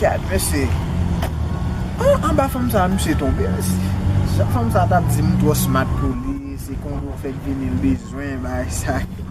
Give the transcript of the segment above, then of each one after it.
Gad mesye An anba fanm sa misye tonbe mesye Jan fanm sa tap di m twò smat pou li se kongo fèk vini l bezwen bagay sa yo.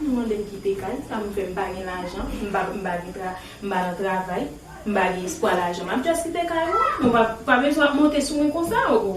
Moun mande m kite kay, sa m fè? M pa gen lajan, m pa m pa gen tra, m pa nan travay, m pa gen espwa lajan. M ap just kite kay mwen an. Nou pa pa bezwen ap monte sou mwen konsa oo.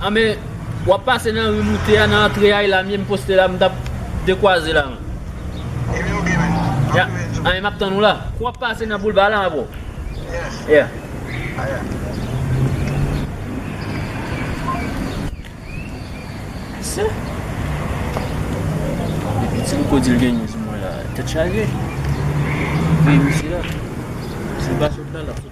Ah men wap pase nan ri moute a nan antre a la mye m poste la m tap dekwaze la man. Ebyen ok men, map tou vini sou. Anh map tann ou la. Kou wap pase nan boulva la bro. Yes. Yeah. Ah yeah. Ese. Depi ti m ko dil genyen sou mwen la tèt chaje. Veye misye la. Sil pa sot la lap sot.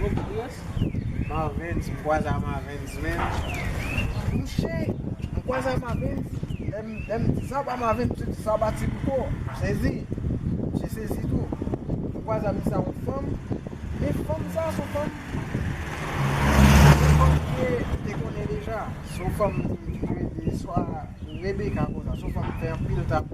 Bon bgy yes. Marvens mkwaza marvens menm. Mouche mkwaza marvens lèm di sa pa marvens mse di sa pa ti pipo. Msezi. Mse sezi tou. Mkwaza misa yon fanm. Men fanm sa son fanm. Son fanm ke mte konnen deja. Son fanm mte konnen deja. Swa rebeka konsa. Son fanm mfè anpil tabou.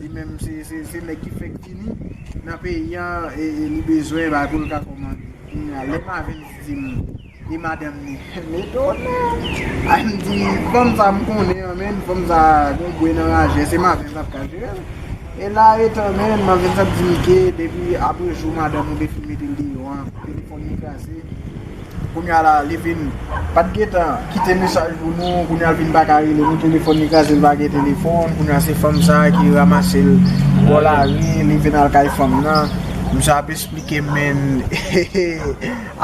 li menm se nèg ki fèk vini nan peyi an e li bezwen bagay pou l ka kòmande. Kounya lè Mavens di m e madanm li, m etone. Ay m di fanm sa m konnen an menn, fanm sa gon bwe nan rajè, se Mavens ap ka jere l. E la e tan menn Mavens ap di m ke depi apre jou madanm ou te fin mete l deyò an, telefòn li kraze. Kounya la li vin pat gentan kite mesaj pou nou kounya l vin paka rele nou telefòn li kraze l pa gen telefòn kounya se fanm sa ki ramase l bò lari li vin al kay fanm nan misye ap esplike menn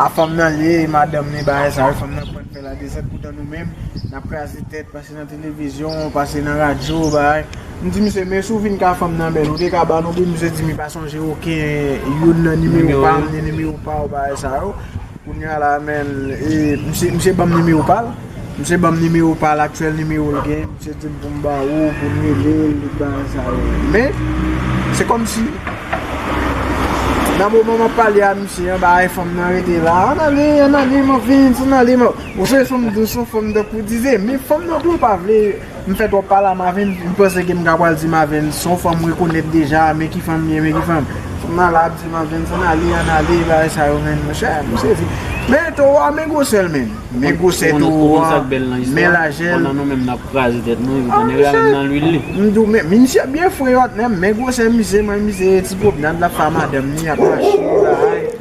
a fanm nan l ye e madanm li bagay sa yo fanm nan pran fè la dezòd poutan nou menm nap kraze tèt. Pase nan televizyon, pase nan radyo, bagay. M di misye, men si w vin ka fè m nan men, ou te ka ban nou pi? Misye di m li pa sonje oken youn nan nimewo pa m, ni nimewo pa w, bagay sa yo. Kounya la men, e misye ban m nimewo pa l. Misye ban m nimewo pa l, aktyèl nimewo l genyen. Misye di m pou m ba ou, pou m rele l, tout bagay sa yo. Men, se kòm si, nan moman m ap pale a misye an, bagay fanm nan rete la, an ale, an ale, m ap vin, san ale, m ap. Ou se fanm dous ou fanm tankou dive men fanm nan tou pa vle m fè twòp pale a Mavin m panse ke m ka pral di Mavin se yon fanm m rekonèt deja men ki fanm li ye men ki fanm fanm nan la ap di Mavin san ale an ale bagay sa yo men monchè m sezi men towo a men gwosè l menn men gwosè towo a men lajè l m di w men misye byen fre yo ak men men gwosè misye men misye ti pwopnad l ap fè a madanm li ap mache yo la a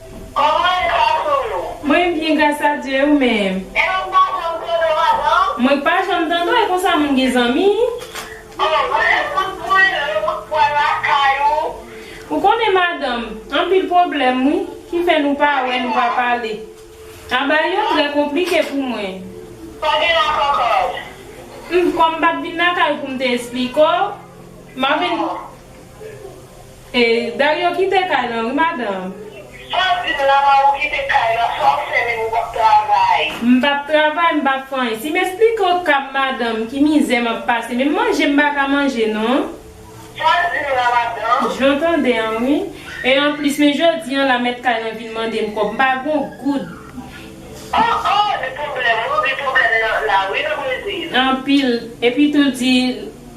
Koman e gras ou yo? Mwen byen gras a Dye ou menm? Epi m pa janm tande w avan? Mwen k pa janm tande w e konsa moun gen zanmi? Oh vre ekout mwen lè mwen pwal lakay ou. Ou konnen madanm, anpil pwoblèm wi, ki fè nou pa wè nou pa pale. Aba yo trè konplike pou mwen. Pa gen la kòkòt. Humm kòm m pat vin lakay ou pou m te esplike w, m ap vin. Dario kite kay lan wi madanm. Saw dim la man ou kite kay lan sa ou fè menm ou pap travay. M pap travay m pap fè anyen sim esplike w kap madanm ki mizè map pase menm manje m paka manje non. Saw dim la madanm. Jan tande an wi. E anplis men jodi an la mèt kay lan vin mande m kòb m pa gon goud. Oh oh li pwoblèm wi ou gen pwoblèm nan la wi nan brezil. Anpil epi tou l di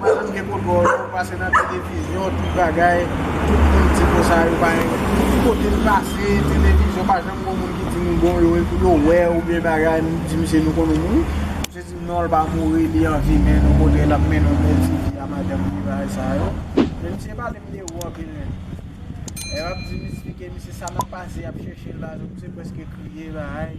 Madanm gen kout gòj ou pase nan televizyon tout bagay tout moun di konsa yo pa renmen ki kote m pase televizyon pa janm gon moun ki di m bon yo epi yo wè ou byen bagay m di misye nou konn ou mouri misye di m non l pa mouri li an vi men nou kote l ap mennen w bèl ti vi a madanm tout bagay sa yo men misye pale m de ou anpil menm lè m ap di m esplike misye sa m ap pase y ap chèche l la misye prèske kriye bagay.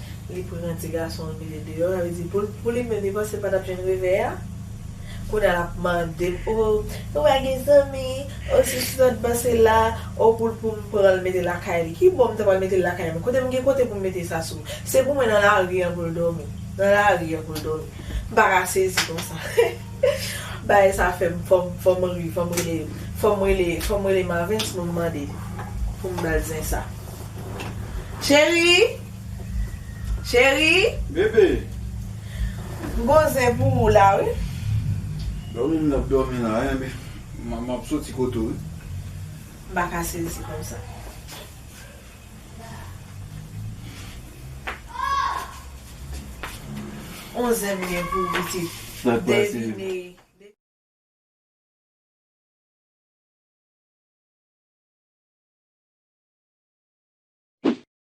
Li pran ti gason l mete deyò, sa vle di pou l pou li menm li panse l pa t ap jwenn revè a. Kounye a l ap mande m o ou pa gen zanmi, o si sou lòt bò se la, o pou l pou m pran l mete lakay li. Ki bon m ta pral mete l lakay mwen? Kote m gen kote pou m mete Sasou? Se pou mwen nan lari an pou l dòmi. Nan lari an pou l dòmi. M pa ka sezi konsa. Bagay sa fè m fò m fò m ri, fò m rele fò m rele fò m rele Marvens pou m mande pou m ba l zen sa. Cheri! Cheri. Bebe. M gon zen pou ou la wi. Domi m nan ap domi la wi men m ap soti kote w wi. M pa ka sezi konsa. On zen m gen pou ou pitit. Sak pase.